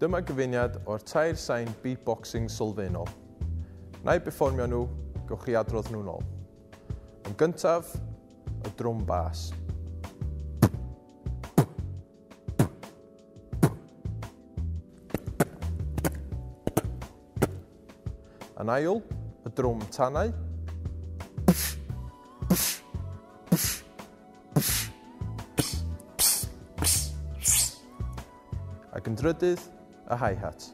Dyma gyfuniad o'r tair sain beatboxing sylfaenol. Na i beformio nhw, gewch chi adrodd nhw'n ôl. Yn gyntaf, y drwm bas. Yn ail, y drwm tanau. Ac yn drydydd, y hi-hat.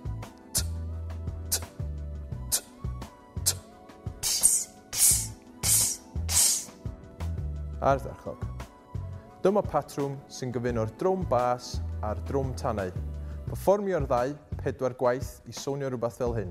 Ardderchog. Dyma patrwm sy'n gyfuno'r drwm bas a'r drwm tanau. Performio'r ddau pedwar gwaith i sonio rhywbeth fel hyn.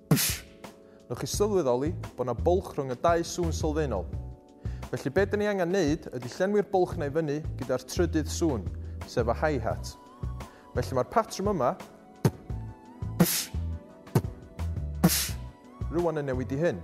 Newch chi sylweddoli bod yna bwlch rhwng y dau sŵn sylfaenol. Felly be dyn ni angen neud ydy llenwi'r bwlch na i fyny gyda'r trydydd sŵn, sef y hi-hat. Felly mae'r patrwm yma rwan yn newid i hyn.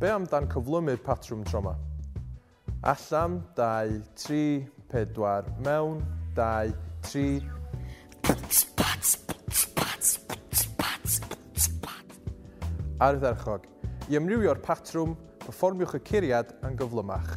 Be am dan cyflymu'r patrwm tro ma? Allan, dau, tri, pedwar, mewn, dau, tri, Pwts, pats, pwts, pats, pwts, pats, pwts, pat. Ardderchog. I amrywio'r patrwm, perfformiwch y curiad yn gyflymach.